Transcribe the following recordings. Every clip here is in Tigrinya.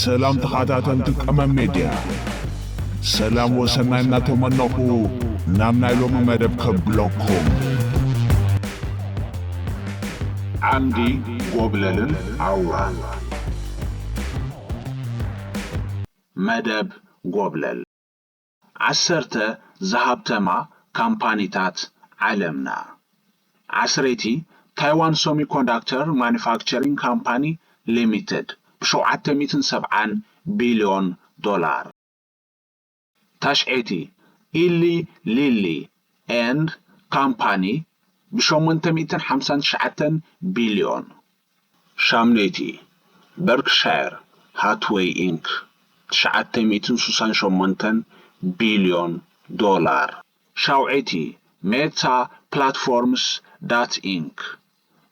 ሰላም ተኸታተልቲ ቀመም ሜድያ ሰላም ወሰናይ እናተመነኹ ናብ ናይ ሎሚ መደብ ከብለኩም ዓንዲ ጎብለልን ኣውራን መደብ ጎብለል ዓሰርተ ዝሃብተማ ካምፓኒታት ዓለምና። ዓስረይቲ ታይዋን ሰሚኮንዳክተር ማኑፋክቸሪንግ ካምፓኒ ሊሚትድ ብሸውዓተ ሚእትን ሰብዓን ቢልዮን ዶላር። ታሽዐይቲ ኢሊ ሊሊ ኤንድ ካምፓኒ ብሸሞንተ ሚእትን ሓምሳን ትሽዓተን ቢልዮን ሻም ለይቲ፣ በርክሻየር ሃትዌይ ኢንክ። ትሽዓተ ሚእትን ሱሳን ሸሞንተን ቢልዮን ዶላር። ሻውዐይቲ፣ ሜታ ፕላትፎርምስ ዳት ኢንክ።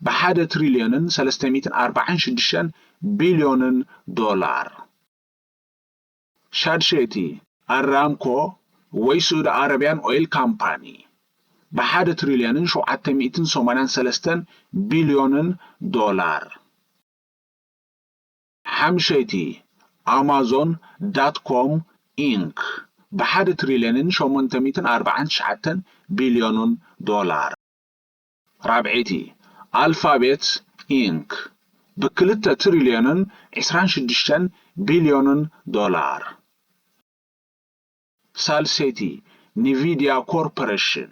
ብሓደ ትሪልዮንን ሰለስተ ሚእትን ኣርባዓን ሽዱሽተን ቢልዮንን ዶላር። ሻድሸይቲ፣ ኣራምኮ ወይ ስዑዲ ዓረብያን ኦይል ካምፓኒ ብሓደ ትሪልዮንን ሸውዓተ ሚእትን ሰማንያን ሰለስተን ቢልዮንን ዶላር። ሓምሸይቲ፣ ኣማዞን ዳት ኮም ኢንክ ብሓደ ትሪልዮንን ሸሞንተ ሚእትን ኣርብዓን ትሽዓተን ቢልዮንን ዶላር። ራብዐይቲ ኣልፋቤት ኢንክ ብ ክልተ ትሪልዮንን ዕስራን ሽዱሽተን ቢልዮንን ዶላር፣ ሳልሰይቲ ንቪድያ ኮርፐረሽን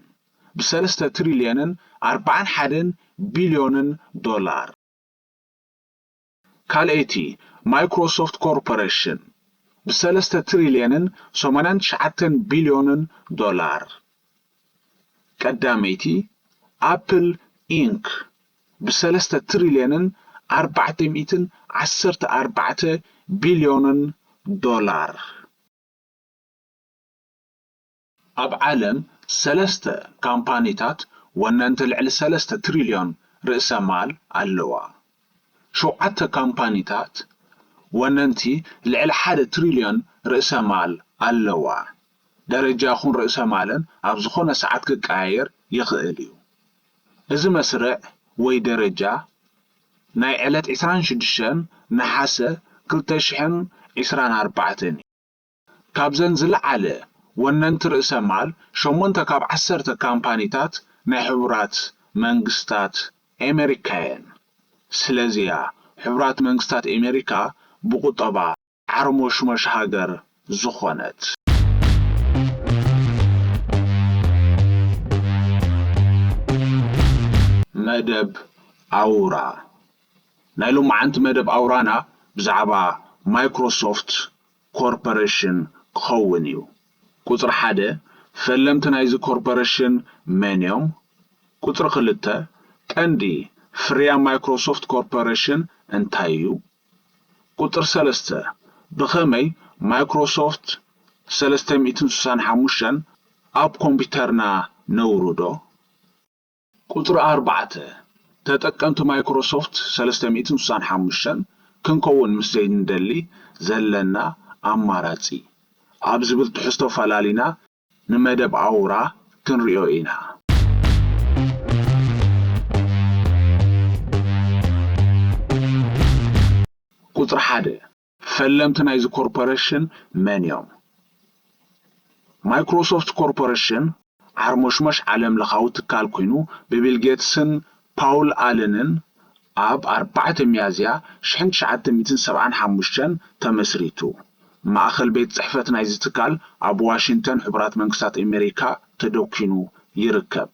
ብ ሰለስተ ትሪልዮንን ኣርብዓን ሓደን ቢልዮንን ዶላር፣ ካልኣይቲ ማይክሮሶፍት ኮርፖረሽን ብሰለስተ ትሪልየንን ሰማንያን ትሽዓተን ቢልዮንን ዶላር፣ ቀዳመይቲ ኣፕል ኢንክ ብሰለስተ ትሪልየንን ኣርባዕተ ሚእትን ዓሰርተ ኣርባዕተ ቢልዮንን ዶላር፣ ኣብ ዓለም ሰለስተ ካምፓኒታት ወነንቲ ልዕሊ ሰለስተ ትሪልዮን ርእሰ ማል ኣለዋ። ሸውዓተ ካምፓኒታት ወነንቲ ልዕሊ ሓደ ትሪልዮን ርእሰ ማል ኣለዋ። ደረጃ ኹን ርእሰ ማለን ኣብ ዝኾነ ሰዓት ክቀያየር ይኽእል እዩ። እዚ መስርዕ ወይ ደረጃ ናይ ዕለት ዕስራን ሽዱሽተን ነሓሰ ክልተ ሽሕን ዕስራን ኣርባዕተን እዩ። ካብዘን ዝለዓለ ወነንቲ ርእሰ ማል ሸሞንተ ካብ ዓሰርተ ካምፓኒታት ናይ ሕቡራት መንግስታት ኤመሪካ'የን። ስለዚ'ያ ሕቡራት መንግስታት ኤመሪካ ብቑጠባ ዓርሞሽሞሽ ሃገር ዝኾነት። መደብ ኣውራ፣ ናይ ሎማዓንቲ መደብ ኣውራና ብዛዕባ ማይክሮሶፍት ኮርፐረሽን ክኸውን እዩ። ቁጽሪ ሓደ፣ ፈለምቲ ናይዚ ኮርፐረሽን መን እዮም? ቁጽሪ ክልተ፣ ቀንዲ ፍርያም ማይክሮሶፍት ኮርፐረሽን እንታይ እዩ? ቁጽሪ ሰለስተ፣ ብኸመይ ማይክሮሶፍት ሰለስተ ሚእትን ስሳን ሓሙሽተን ኣብ ኮምፒተርና ነውርዶ? ቁጽሪ ኣርባዕተ፣ ተጠቀምቲ ማይክሮሶፍት ሰለስተ ሚእትን ስሳን ሓሙሽተን ክንከውን ምስ ዘይንደሊ ዘለና ኣማራጺ ኣብ ዝብል ትሕዝቶ ፈላሊና ንመደብ ኣውራ ክንሪኦ ኢና። ቁጽሪ ሓደ፣ ፈለምቲ ናይዚ ኮርፖረሽን መን እዮም? ማይክሮሶፍት ኮርፖረሽን ዓርሞሽሞሽ ዓለምለኻዊ ትካል ኩይኑ ብቢል ጌትስን ፓውል ኣለንን ኣብ ኣርባዕተ ሚያዝያ ሽሕን ትሽዓተ ሚእትን ሰብዓን ሓሙሽተን ተመስሪቱ። ማእኸል ቤት ፅሕፈት ናይዚ ትካል ኣብ ዋሽንተን ሕቡራት መንግስታት ኤሜሪካ ተደኲኑ ይርከብ።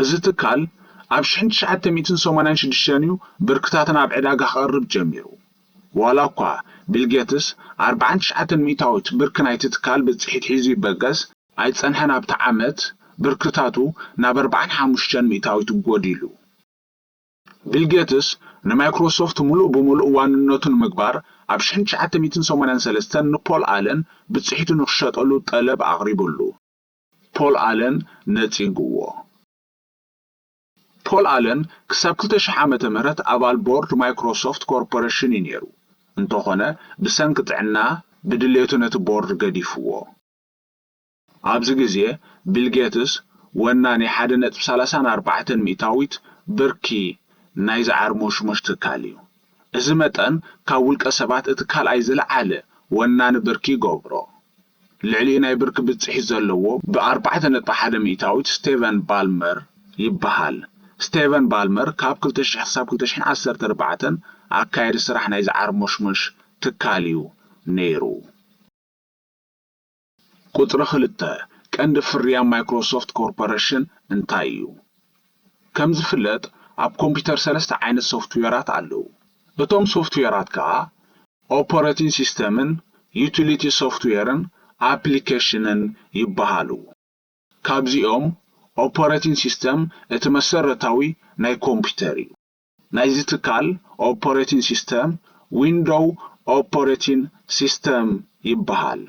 እዚ ትካል ኣብ ሽሕን ትሽዓተ ሚእትን ሰማንያን ሽዱሽተን እዩ ብርክታትን ኣብ ዕዳጋ ክቐርብ ጀሚሩ። ዋላ እኳ ቢል ጌትስ ኣርብዓን ትሽዓተን ሚእታዊት ብርኪ ናይቲ ትካል ብፅሒት ሒዙ ይበገስ፣ ኣይፀንሐን ኣብቲ ዓመት ብርክታቱ ናብ ኣርብዓን ሓሙሽተን ሚእታዊት ጎዲሉ። ቢል ጌትስ ንማይክሮሶፍት ሙሉእ ብሙሉእ ዋንነቱ ንምግባር ኣብ ሽሕን ትሽዓተ ሚእትን ሰማንያን ሰለስተን ንፖል ኣለን ብፅሒቱ ንክሸጠሉ ጠለብ ኣቕሪቡሉ። ፖል ኣለን ነጺጉዎ። ፖል ኣለን ክሳብ ክልተ ሽሕ ዓመተ ምህረት ኣባል ቦርድ ማይክሮሶፍት ኮርፖረሽን እዩ ነይሩ፣ እንተኾነ ብሰንኪ ጥዕና ብድሌቱ ነቲ ቦርድ ገዲፉዎ። ኣብዚ ግዜ ቢል ጌትስ ወናኒ ሓደ ነጥቢ ሰላሳን ኣርባዕተን ሚእታዊት ብርኪ ናይዚ ዓርሞሽሞሽ ትካል እዩ። እዚ መጠን ካብ ውልቀ ሰባት እቲ ካልኣይ ዝለዓለ ወናኒ ብርኪ ይገብሮ። ልዕሊኡ ናይ ብርኪ ብፅሒት ዘለዎ ብ ኣርባዕተ ነጥቢ ሓደ ሚእታዊት ስቴቨን ባልመር ይበሃል። ስቴቨን ባልመር ካብ ክልተ ሽሕ ክሳብ ክልተ ሽሕን ዓሰርተ ኣርባዕተን ኣካያዲ ስራሕ ናይዚ ዓርሞሽሞሽ ትካል እዩ ነይሩ። ቁፅሪ ክልተ፣ ቀንዲ ፍርያም ማይክሮሶፍት ኮርፖረሽን እንታይ እዩ? ከም ዝፍለጥ ኣብ ኮምፒተር ሰለስተ ዓይነት ሶፍትዌራት ኣለዉ። እቶም ሶፍትዌራት ከዓ። ኦፐረቲን ሲስተምን ዩቲሊቲ ሶፍትዌርን ኣፕሊኬሽንን ይበሃሉ። ካብዚኦም ኦፐረቲን ሲስተም እቲ መሰረታዊ ናይ ኮምፒተር እዩ። ናይዚ ትካል ኦፐረቲን ሲስተም ዊንዶው ኦፐረቲን ሲስተም ይበሃል።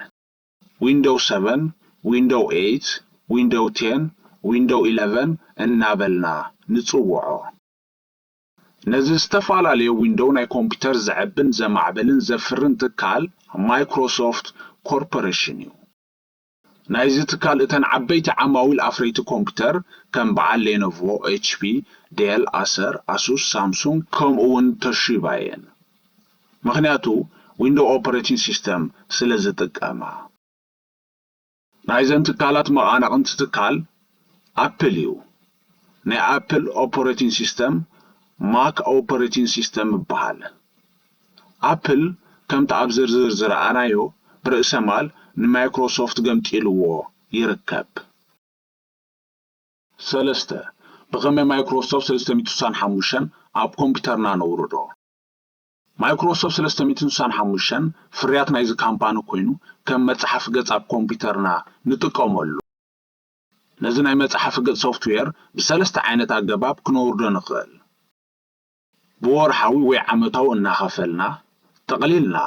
ዊንዶው ሰቨን፣ ዊንዶው ኤይት፣ ዊንዶው ቴን፣ ዊንዶው ኢለቨን እናበልና ንፅውዖ። ነዚ ዝተፈላለየ ዊንዶው ናይ ኮምፒተር ዘዕብን ዘማዕብልን ዘፍርን ትካል ማይክሮሶፍት ኮርፖረሽን እዩ። ናይዚ ትካል እተን ዓበይቲ ዓማዊል ኣፍረይቲ ኮምፒተር ከም በዓል ሌኖቮ፣ ኤችፒ፣ ዴል፣ ኣሰር፣ ኣሱስ፣ ሳምሱንግ ከምኡ ውን ቶሺባ እየን። ምኽንያቱ ዊንዶው ኦፐሬቲንግ ሲስተም ስለዝጥቀማ። ናይዘን ትካላት መቓናቕንቲ ትካል ኣፕል እዩ። ናይ ኣፕል ኦፐረቲን ሲስተም ማክ ኦፐረቲን ሲስተም ይበሃል። ኣፕል ከምቲ ኣብ ዝርዝር ዝረኣናዮ ብርእሰማል ንማይክሮሶፍት ገምጢልዎ ይርከብ። ሰለስተ፣ ብኸመይ ማይክሮሶፍት ሰለስተ ሚእቲ ስሳን ሓሙሽተን ኣብ ኮምፒተርና ነውርዶ? Microsoft ሰለስተ ሚእትን ስሳን ሓሙሽተን ፍርያት ናይዚ ካምፓኒ ኮይኑ ከም መጻሓፊ ገጽ ኣብ ኮምፒተርና ንጥቀመሉ። ነዚ ናይ መጻሓፊ ገጽ ሶፍትዌር ብሰለስተ ዓይነት ኣገባብ ክነውርዶ ንኽእል። ብወርሓዊ ወይ ዓመታዊ እናኸፈልና፣ ጠቕሊልና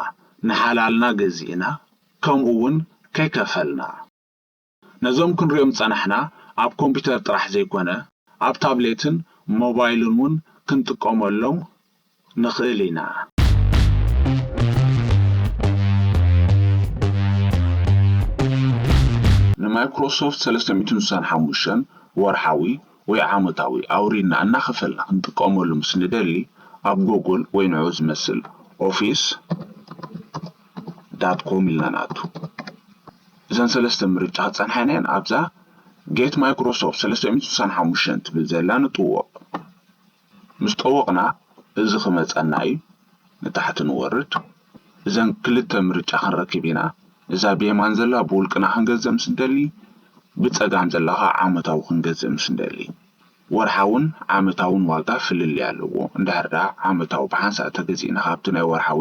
ንሓላልና ገዚእና ከምኡ ውን ከይከፈልና። ነዞም ክንሪኦም ዝጸናሕና ኣብ ኮምፒተር ጥራሕ ዘይኮነ ኣብ ታብሌትን ሞባይልን ውን ክንጥቀመሎም ንኽእል ኢና። ንማይክሮሶፍት ሰለስተ ሚእትን ስሳን ሓሙሽተን ወርሓዊ ወይ ዓመታዊ ኣውሪድና እናኸፈልና ክንጥቀመሉ ምስ ንደሊ ኣብ ጎጉል ወይ ንዕኡ ዝመስል ኦፊስ፣ ዳት ኮም ኢልና ንኣቱ። እዘን ሰለስተ ምርጫ ክጸንሓና'የን ኣብዛ Get Microsoft ሰለስተ ሚእትን ስሳን ሓሙሽተን ትብል ዘላ ንጥወቕ። ምስ ጠወቕና እዚ ክመጸና'ዩ ንታሕቲ ንወርድ። እዘን ክልተ ምርጫ ክንረክብ ኢና። እዛ ብየማን ዘላ ብውልቅና ክንገዝእ ምስ እንደሊ፣ ብጸጋም ዘላ ከኣ ዓመታዊ ክንገዝእ ምስ እንደሊ። ወርሓውን ዓመታውን ዋጋ ፍልልይ ኣለዎ። እንድሕር ደኣ ዓመታዊ ብሓንሳእ ተገዚእና ካብቲ ናይ ወርሓዊ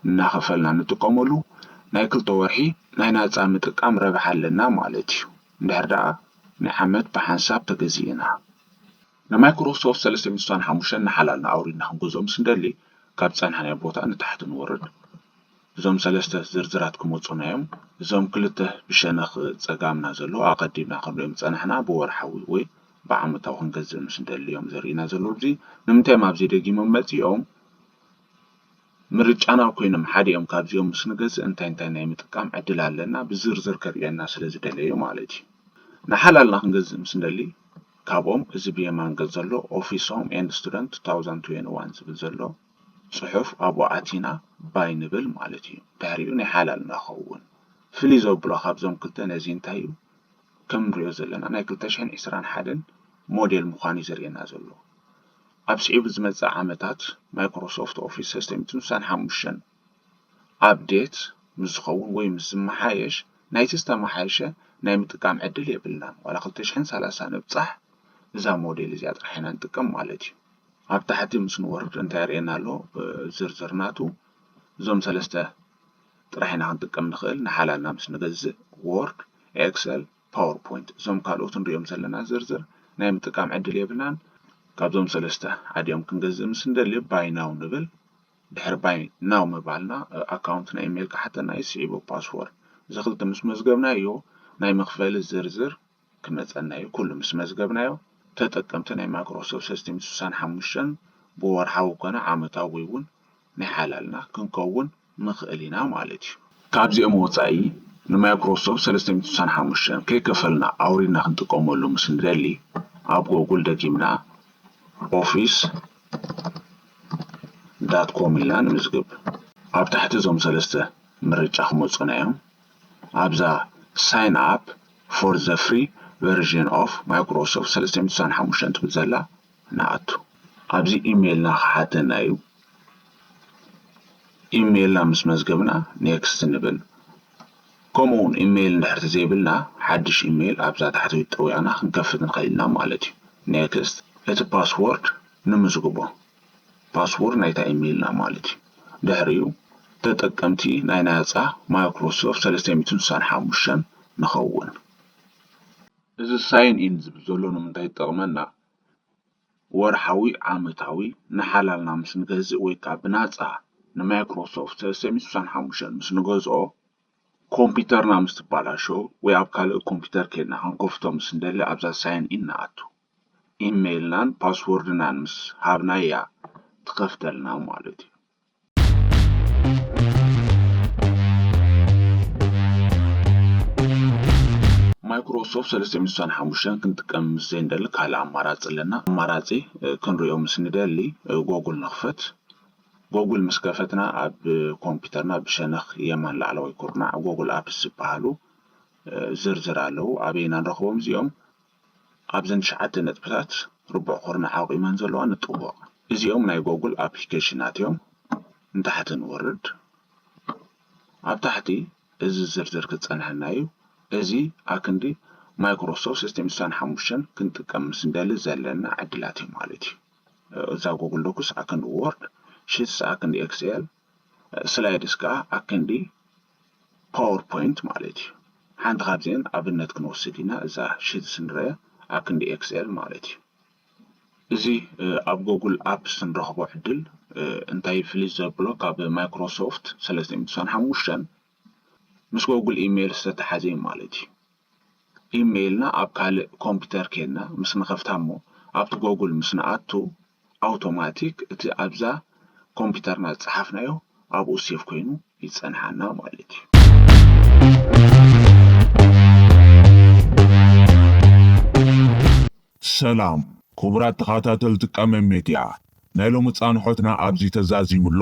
እናኸፈልና ንጥቀመሉ፣ ናይ ክልተ ወርሒ ናይ ናጻ ምጥቃም ረብሓ ኣለና ማለት እዩ። እንድሕር ደኣ ናይ ዓመት ብሓንሳብ ተገዚእና። ንማይክሮሶፍት ሰለስተ ሚእቲ ስሳን ሓሙሽተን ንሓላልና ኣውሪድና ክንገዝኦም ስንደሊ፣ ካብ ዝጸናሕናዮ ቦታ ንታሕቲ ንወርድ። እዞም ሰለስተ ዝርዝራት ክመጹና እዮም። እዞም ክልተ ብሸነኽ ጸጋምና ዘለዉ ኣቐዲምና ክንርእዮም ዝጸናሕና ብወርሓዊ ወይ። ብዓመታዊ ክንገዝእ ምስ ንደሊ እዮም ዘርእዩና ዘለዉ እዚ ንምንታይ እዮም ኣብዚ ደጊሞም መጺኦም ምርጫና ኮይኖም ሓደ እዮም ካብዚኦም ምስ ንገዝእ እንታይ እንታይ ናይ ምጥቃም ዕድል ኣለና ብዝርዝር ከርእየና ስለ ዝደለዩ ማለት እዩ ንሓላልና ክንገዝእ ምስ ንደሊ ካብኦም እዚ ብየማን ገጽ ዘሎ ኦፊስ ሆም ኤንድ ስቱደንት 2021 ዝብል ዘሎ ጽሑፍ ኣብኡ ኣቲና ባይ ንብል ማለት እዩ ድሕሪኡ ናይ ሓላልና ክኸውን ፍልይ ዘብሎ ካብዞም ክልተ ነዚ እንታይ እዩ ከም ንሪኦ ዘለና ናይ ክልተ ሽሕን ዕስራን ሓደን ሞዴል ምዃኑ እዩ ዘርእየና ዘሎ። ኣብ ስዒቡ ዝመጽእ ዓመታት ማይክሮሶፍት ኦፊስ ሰስቴም ስሳን ሓሙሽተን ኣፕዴት ምስ ዝኸውን ወይ ምስ ዝመሓየሽ ናይቲ ዝተመሓየሸ ናይ ምጥቃም ዕድል የብልናን። ዋላ ክልተ ሽሕን ሰላሳን ንብጻሕ እዛ ሞዴል እዚኣ ጥራሕ ኢና ንጥቀም ማለት እዩ። ኣብ ታሕቲ ምስ ንወርድ እንታይ የርእየና ኣሎ ዝርዝር ናቱ እዞም ሰለስተ ጥራሕ ኢና ክንጥቀም ንኽእል ንሓላልና ምስ ንገዝእ ዎርድ ኤክሰል ፓወር ፖይንት እዞም ካልኦት ንሪኦም ዘለና ዝርዝር ናይ ምጥቃም ዕድል የብልናን ካብዞም ሰለስተ ሓዲኦም ክንገዝእ ምስ ንደሊ ባይ ናው ንብል ድሕሪ ባይ ናው ምባልና ኣካውንት ናይ ኢሜይል ክሓተና እዩ ስዒቡ ፓስዎርድ እዚ ክልተ ምስ መዝገብናዮ ናይ መኽፈሊ ዝርዝር ክመጸና እዩ ኩሉ ምስ መዝገብናዮ ተጠቀምቲ ናይ ማይክሮሶፍት ሰስቲም ስሳን ሓሙሽተን ብወርሓዊ ኮነ ዓመታዊ እውን ናይ ሓላልና ክንከውን ንኽእል ኢና ማለት እዩ። ካብዚኦም ወጻኢ ንማይክሮሶፍት ሰለስተ ሚእቲ ስሳን ሓሙሽተን ከይከፈልና ኣውሪድና ክንጥቀመሉ ምስ ንደሊ ኣብ ጎጉል ደጊምና ኦፊስ ዳት ኮም ኢልና ንምዝግብ። ኣብ ታሕቲ እዞም ሰለስተ ምርጫ ክመጹና እዮም። ኣብዛ ሳይን ኣፕ ፎር ዘ ፍሪ ቨርዥን ኦፍ ማይክሮሶፍት ሰለስተ ሚእቲ ስሳን ሓሙሽተን ትብል ዘላ ንኣቱ። ኣብዚ ኢሜይልና ክሓተና እዩ። ኢሜይልና ምስ መዝገብና ኔክስት ንብል። ከምኡውን ኢሜይል እንድሕር ተዘይብልና ሓድሽ ኢሜይል ኣብዛ ታሕተዊት ጠዊቕና ክንከፍት ንኽእል ኢና ማለት እዩ። ኔክስት። እቲ ፓስዎርድ ንምዝግቦ። ፓስዎርድ ናይታ ኢመይልና ማለት እዩ። ድሕሪኡ ተጠቀምቲ ናይ ናጻ Microsoft ሰለስተ ሚእትን ስሳን ሓሙሽተን ንኸውን። እዚ ሳይን ኢን ዝብል ዘሎ ንምንታይ ይጠቕመና? ወርሓዊ፣ ዓመታዊ፣ ንሓላልና ምስ ንገዝእ ወይ ከኣ ብናጻ ንማይክሮሶፍት ሰለስተ ሚእትን ስሳን ሓሙሽተን ምስ ንገዝኦ ኮምፒተርና ምስ ትባላሾ ወይ ኣብ ካልእ ኮምፒተር ኬድና ክንከፍቶ ምስ ንደሊ ኣብዛ ሳይን ኢን ንኣቱ። ኢመይልናን ፓስዎርድናን ምስ ሃብናያ ትኸፍተልና ማለት እዩ። ማይክሮሶፍት ሰለስተ ሚእቲ ስሳን ሓሙሽተን ክንጥቀም ምስ ዘይንደሊ ካልእ ኣማራጺ ኣለና። ኣማራጺ ክንሪኦ ምስ ንደሊ ጎጉል ንኽፈት። ጎጉል ምስ ከፈትና ኣብ ኮምፒተርና ብሸነኽ የማን ላዕለዋይ ኩርናዕ ጎጉል ኣፕስ ዝበሃሉ ዝርዝር ኣለዉ። ኣበይ ኢና ንረኽቦም እዚኦም? ኣብዘን ትሽዓተ ነጥብታት ርቡዕ ኩርናዕ ኣቑመን ዘለዋ ንጥወቕ። እዚኦም ናይ ጎጉል ኣፕሊኬሽናት እዮም። ንታሕቲ ንወርድ። ኣብ ታሕቲ እዚ ዝርዝር ክጸንሐና እዩ። እዚ ኣክንዲ Microsoft System ስሳን ሓሙሽተን ክንጥቀም ምስ እንደሊ ዘለና ዕድላት እዩ ማለት እዩ። እዛ ጎጉል ዶክስ ኣክንዲ ዎርድ፣ ሽትስ ኣክንዲ ኤክስኤል፣ ስላይድስ ከኣ ኣክንዲ ፓወርፖይንት ማለት እዩ። ሓንቲ ካብዚኤን ኣብነት ክንወስድ ኢና እዛ ሽትስ ንሪኣ ኣብ ክንዲ ኤክስኤል ማለት እዩ። እዚ ኣብ ጎጉል ኣፕስ ንረኽቦ ዕድል እንታይ ፍልይ ዘብሎ ካብ ማይክሮሶፍት ሰለስተ ሚእቲ ዕስራን ሓሙሽተን ምስ ጎጉል ኢሜይል ዝተተሓዘ እዩ ማለት እዩ። ኢሜይል እና ኣብ ካልእ ኮምፒተር ኬድና ምስ ንኸፍታ እሞ ኣብቲ ጎጉል ምስ ንኣቱ ኣውቶማቲክ እቲ ኣብዛ ኮምፒተርና ዝጸሓፍናዮ ኣብኡ ሴቭ ኮይኑ ይጸንሓና ማለት እዩ። ሰላም ኩቡራት ተኻታተልቲ ቀመም ሜድያ ናይ ሎሚ ጻንሖትና ኣብዚ ተዛዚሙ ኣሎ